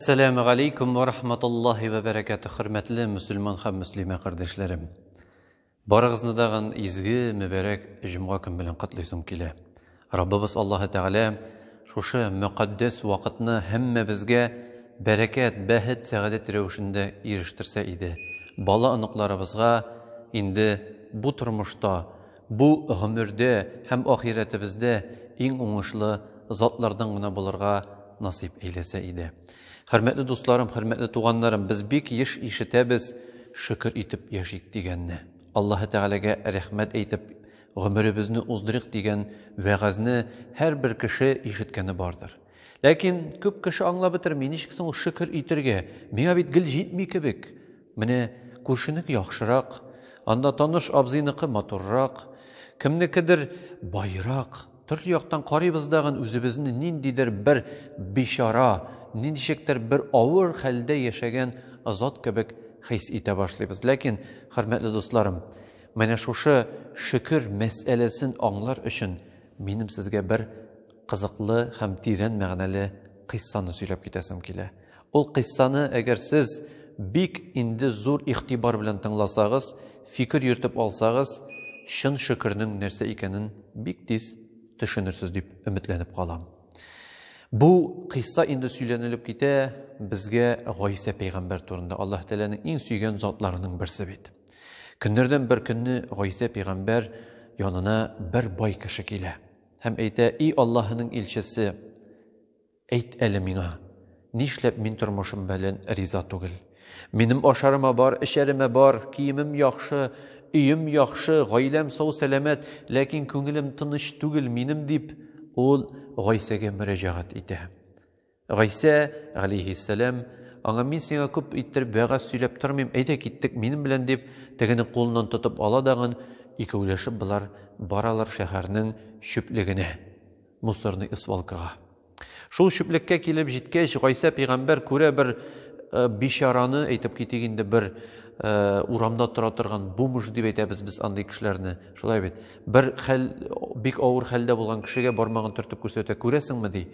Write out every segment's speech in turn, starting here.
Сәләме галейкум ва рахматуллахи ва бәрәкәтү, хөрмәтле мөселман һәм мөслимә кардәшләрем. Барыгызны дагын изге, мөбәрәк җомга көн белән котлыйсым килә. Раббыбыз Аллаһы Тәгалә шушы мөкатдәс вакытны һәммәбезгә бәрәкәт, бәхет, сәгадәт рәвешендә ирештерсә иде. Бала-оныкларыбызга инде бу тормышта Бу гомердә һәм ахирәтебездә иң уңышлы затлардан гына булырга насыйп әйләсә иде. Хөрмәтле дусларым, хөрмәтле туганнарым, без бик еш ишетәбез, Шөкер итеп яшик, дигәнне. Аллаһы Тәгаләгә рәхмәт әйтеп, гомеребезне уздырыйк, дигән вәгазьне һәрбер кеше ишеткәне бардыр. Ләкин күп кеше аңлап бетерми, ничек соң ул шөкер итергә, миңа бит гел җитми кебек? Менә күршенеке яхшырак, анда таныш абзыйныкы матуррак, кемнекедер баерак, төрле яктан карыйбыз дагын үзебезне ниндидер бер бичара, ниндичектер бер авыр хәлдә яшәгән зат кебек хис итә башлыйбыз. Ләкин, хөрмәтле дусларым, менә шушы шөкер мәсьәләсен аңлар өчен минем сезгә бер кызыклы һәм тирән мәгънәле кыйссаны сөйләп китәсем килә. Ул кыйссаны әгәр сез бик инде зур игътибар белән тыңласагыз, фикер йөртеп алсагыз, чын шөкернең нәрсә икәнен бик тиз төшенерсез дип өметләнеп калам. Бу кыйсса инде сөйләнелеп китә, безгә Гайсә пәйгамбәр турында, Аллаһ Тәгаләнең иң сөйгән затларының берсе бит. Көннәрдән бер көнне Гайсә пәйгамбәр янына бер бай кеше килә һәм әйтә, И Аллаһының илчесе, Әйт әле миңа, нишләп мин тормышым бәлән риза түгел? Минем ашарыма бар, эчәремә бар, киемем яхшы, өем яхшы, гаиләм сау-сәламәт, ләкин күңелем тыныч түгел минем, дип, ул Гайсәгә мөрәҗәгать итә. Гайсә, галейһиссәлам, аңа мин сиңа күп иттереп вәгазь сөйләп тормыйм, әйдә киттек минем белән, дип, тегенең кулыннан тотып ала дагын, икәүләшеп болар баралар шәһәрнең чүплегенә. мусорный свалкага. Шул чүплеккә килеп җиткәч, Гайсә пигамбәр күрә бер э, бичараны, әйтеп китик инде, бер э, урамда тора торган бомж дип әйтәбез без андый кешеләрне. Шулай бит. Бер хәл бик авыр хәлдә булган кешегә бармагын төртеп күрсәтә, күрәсеңме ди.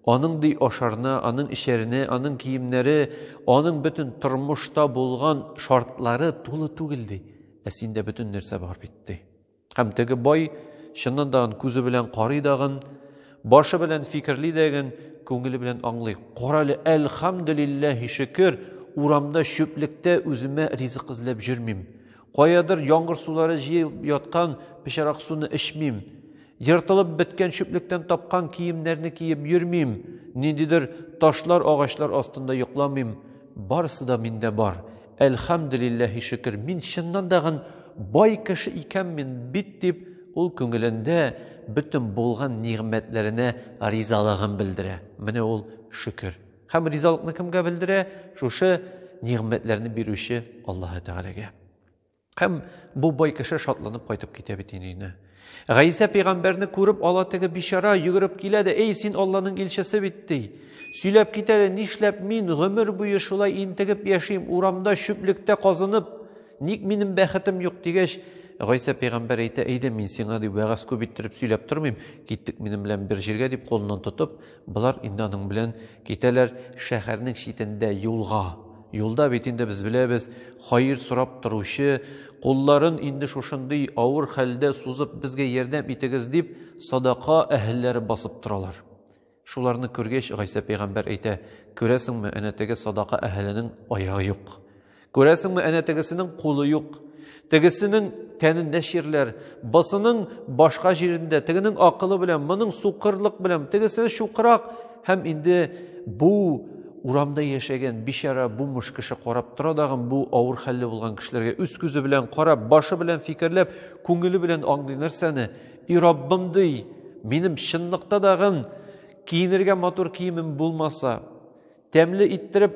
Аның ди ашарына, аның ишәренә, аның киемнәре, аның бөтен тормышта булган шартлары тулы түгел ди. Ә синдә бөтен нәрсә бар бит ди. Һәм теге бай, чыннан дагын күзе белән карый дагын, башы белән фикерли дәген, күңеле белән аңлый. Карале, әлхәмдүлилләһи шөкер, урамда чүплектә үземә ризык эзләп җөрмим. Каядыр яңгыр сулары җыеп яткан пычарак суны эчмим. Ертылып беткән чүплектән тапкан киемнәрне киеп йөрмим. Ниндидер ташлар, агачлар астында йокламыйм. Барысы да миндә бар. Әлхәмделилләһи шөкер, мин чыннан да гын бай кеше икәнмен бит, дип, ул күңелендә бөтен булган нигъмәтләренә ризалыгын белдерә. Менә ул шөкер. Һәм ризалыкны кемгә белдерә? Шушы нигъмәтләрне бирүче Аллаһы Тәгаләгә. Һәм бу бай кеше шатланып кайтып китә бит инде өенә. Гайсә пәйгамбәрне күреп ала теге бичара, йөгереп килә дә, "Эй, син Алланың илчесе бит", ди. Сөйләп кит әле, нишләп мин гомер буе шулай интегеп яшим, урамда, чүплектә казынып, ник минем бәхетем юк дигәч, Гайсә пәйгамбәр әйтә, әйдә мин сиңа дип вәгазь күп иттереп сөйләп тормыйм, киттек минем белән бер җиргә дип кулыннан тотып, Болар инде аның белән китәләр шәһәрнең читендә юлга. Юлда бит инде без беләбез, хаир сорап торучы, кулларын инде шушындый авыр хәлдә сузып безгә ярдәм итегез дип, садака әһелләре басып торалар. Шуларны күргәч, Гайсә пәйгамбәр әйтә, Күрәсеңме, әнә теге садака әһеленең аягы юк. Күрәсеңме, әнә тегесенең кулы юк. Тегесенең тәнендә чирләр, бысының башка җирендә, тегенең акылы белән, моның сукырлык белән, тегесе шукырак һәм инде бу урамда яшәгән бичара бумыш кеше карап тора дагын бу авыр хәлле булган кешеләргә үз күзе белән карап, башы белән фикерләп, күңеле белән аңлый нәрсәне? И Раббым ди, минем чынлыкта дагын киенергә матур киемем булмаса, Тәмле иттереп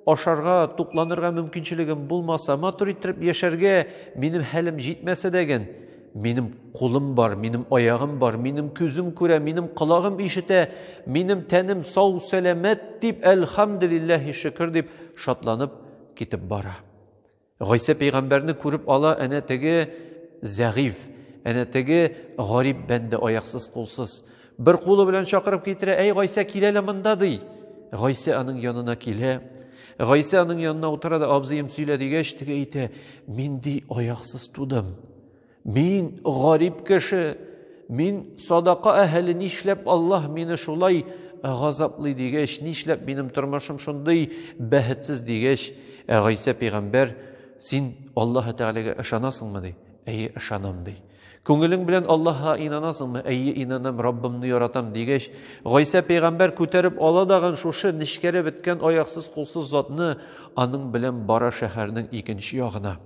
ашарга, тукланырга мөмкинчелегем булмаса, матур иттереп яшәргә минем хәлем җитмәсә дә гән, минем кулым бар, минем аягым бар, минем күзем күрә, минем колагым ишетә, минем тәнем сау, сәламәт дип, әлхәмдулиллаһи шөкер дип шатланып китеп бара. Гайсә пәйгамбәрне күреп ала әнә теге зәгыйф, әнә теге гарип бәндә аяксыз кулсыз. Бер кулы белән чакырып китерә, әй Гайсә кил әле монда ди. Гайсә аның янына килә. Гайсә аның янына утыра да абзыем сөйлә дигәч, теге әйтә, мин ди аяксыз тудым. Мин гарип кеше, мин садака әһеле, нишләп Аллаһ мине шулай газаплый дигәч, нишләп минем тормышым шундый бәхетсез дигәч, ә Гайсә пәйгамбәр, син Аллаһ Тәгаләгә ышанасыңмы ди? Әйе, ышанам ди. Күңелең белән Аллаһка инанасыңмы? Әйе, инанам, Раббымны яратам дигәч, Гайсә пәйгамбәр күтәреп ала дагын шушы нечкәрә беткән аяксыз кулсыз затны аның белән бара шәһәрнең икенче ягына.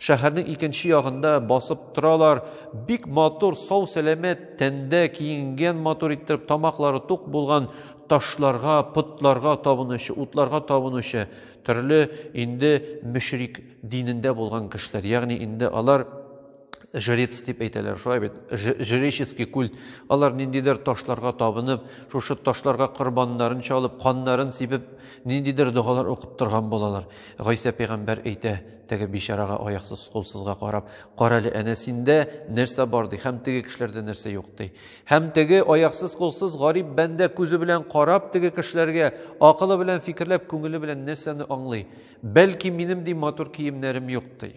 Шәһәрнең икенче ягында басып торалар, бик матур, сау сәламәт, тәндә киенгән матур иттереп, тамаклары тук булган, ташларга, потларга табынучы, утларга табынучы, төрле инде мөшрик динендә булган кешеләр. Ягъни инде алар жрец дип әйтәләр, шулай бит, жреческий культ. Алар ниндидер ташларга табынып, шушы ташларга корбаннарын чалып, каннарын сибеп, ниндидер догалар укып торган булалар. Гайсә пәйгамбәр әйтә, Теге бичарага аяксыз, кулсызга карап, карале, әнә синдә нәрсә бар ди, һәм теге кешеләрдә нәрсә юк ди. Һәм теге аяксыз, кулсыз гарип бәндә күзе белән карап теге кешеләргә, акылы белән фикерләп, күңеле белән нәрсәне аңлый? Бәлки минем ди матур киемнәрем юк ди.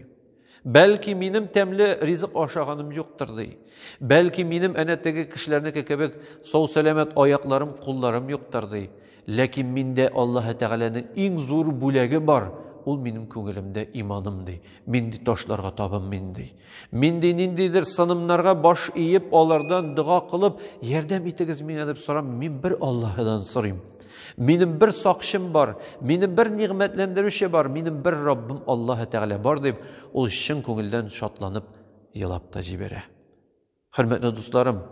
Бәлки минем тәмле ризык ашаганым юктыр ди. Бәлки минем әнә теге кешеләрнеке кебек сау-сәламәт аякларым, кулларым юктыр ди. Ләкин миндә Аллаһы Тәгаләнең иң зур бүләге бар, ул минем күңелемдә иманым, ди. Мин ди ташларга табынмыйм, ди. Мин ди ниндидер сынымнарга баш иеп, алардан дога кылып, ярдәм итегез миңа дип сорамыйм, мин бер Аллаһыдан сорыйм. Минем бер сакчым бар, минем бер нигъмәтләндерүче бар, минем бер Раббым Аллаһы Тәгалә бар, дип, ул чын күңелдән шатланып елап та җибәрә. Хөрмәтле дусларым,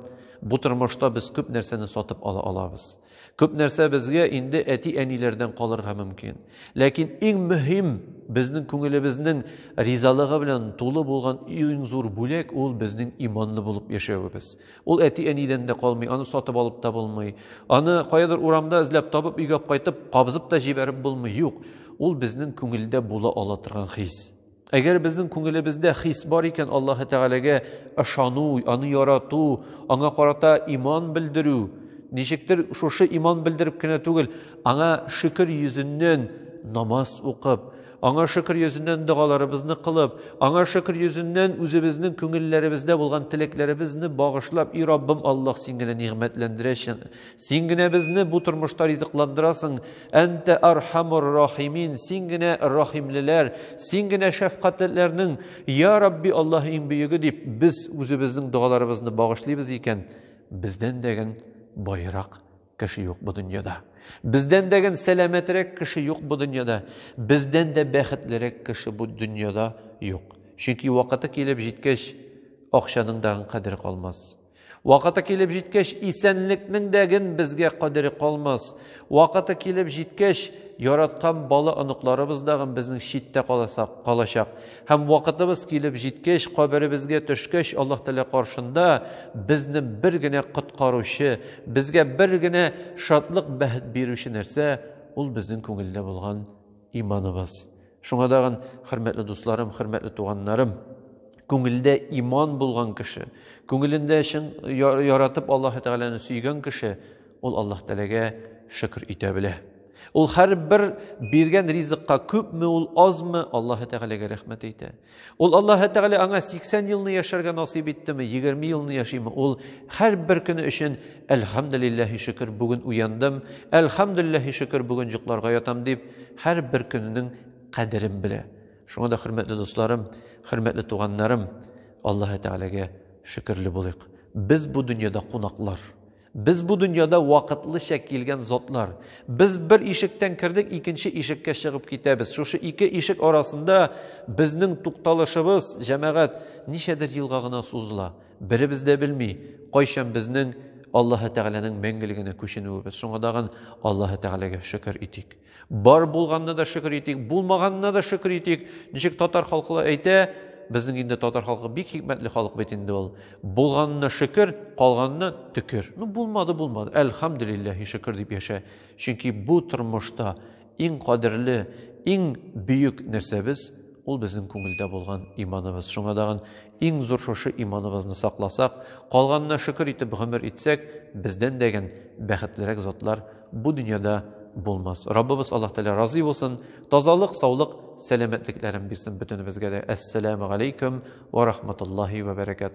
бу тормышта без күп нәрсәне сатып ала алабыз. Күп нәрсә безгә инде әти-әниләрдән калырга мөмкин. Ләкин иң мөһим, безнең күңелебезнең ризалыгы белән тулы булган иң зур бүләк ул безнең иманлы булып яшәвебез. Ул әти-әнидән дә калмый, аны сатып алып та булмый. Аны каядыр урамда эзләп табып өйгә кайтып, кабызып та җибәреп булмый. Юк, ул безнең күңелдә була ала торган хис. Әгәр безнең күңелебездә хис бар икән Аллаһ Тәгаләгә ышану, аны ярату, аңа карата иман белдерү, ничектер шушы иман белдереп кенә түгел, аңа шөкер йөзеннән намаз укып, аңа шөкер йөзеннән догаларыбызны кылып, аңа шөкер йөзеннән үзебезнең күңелләребездә булган теләкләребезне багышлап, и Раббым Аллаһ, син генә нигъмәтләндерәчен, Син генә безне бу тормышта ризыкландырасың. Әнтә архамур рахимин, син генә рахимлеләр, син генә шәфкатьлеләрнең, я Рабби Аллаһ иң бөеге дип, без үзебезнең догаларыбызны багышлыйбыз икән, бездән дәген байрак кеше юк бу дөньяда. Бездән дәген сәламәтрәк кеше юк бу дөньяда. Бездән дә бәхетлерәк кеше бу дөньяда юк. Чөнки вакыты килеп җиткәч, акчаның дагын кадере калмас. Вакыты килеп җиткәч, исәнлекнең дә ген безгә кадере калмас. Вакыты килеп җиткәч, яраткан бала оныкларыбыз да ген безнең читтә каласак, калачак. Һәм вакытыбыз килеп җиткәч, каберебезгә төшкәч, Аллаһ Тәгалә каршында безне бер генә коткаручы, безгә бер генә шатлык, бәхет бирүче нәрсә, ул безнең күңелдә булган Иманыгыз. Шуңа дагын, хөрмәтле дусларым, хөрмәтле туганнарым, күңелдә иман булган кеше, күңелендә чын яратып Аллаһ Тәгаләне сөйгән кеше, ул Аллаһ Тәгаләгә шөкер итә белә. Ул һәрбер биргән ризыкка күпме ул, азмы, Аллаһ Тәгаләгә рәхмәт әйтә. Ул Аллаһы Тәгалә аңа 80 елны яшәргә насыйп иттеме, 20 елны яшиме, ул һәрбер көне өчен Әлхәмдулиллаһи шөкер, бүген уяндым, Әлхәмдулиллаһи шөкер, бүген йокларга ятам дип, һәрбер көненең кадерен белә. Шуңа да хөрмәтле дусларым, хөрмәтле туганнарым, Аллаһы Тәгаләгә шөкерле булыйк. Без бу дөньяда кунаклар. Без бу дөньяда вакытлыча килгән затлар. Без бер ишектән кердек, икенче ишеккә чыгып китәбез. Шушы ике ишек арасында безнең тукталышыбыз, җәмәгать, ничәдер елга гына сузыла. Беребез дә белми, кайчан безнең Аллаһы Тәгаләнең мәңгелегенә күченүебез. Шуңа тагын Аллаһы Тәгаләгә шөкер итик. Бар булганына да шөкер итик, булмаганына да шөкер итик. Ничек татар халкы әйтә, безнең инде татар халкы бик хикмәтле халык бит инде ул. Булганына шөкер, калганына төкер. Ну булмады, булмады. Әлхамдулиллаһи шөкер дип яшә. Чөнки бу тормышта иң кадерле, иң бөек нәрсәбез ул безнең күңелдә булган иманыбыз. Шуңа дагын Иң зур шушы иманыбызны сакласак, калганына шөкер итеп гомер итсәк, бездән дәгән бәхетлерәк затлар бу дөньяда булмас. Раббыбыз Аллаһ Тәгалә разый булсын, тазалык, саулык, сәламәтлекләрен бирсен бөтенебезгә дә. Әссәләмү галәйкүм вә рахматуллаһи вә бәрәкәтүһ.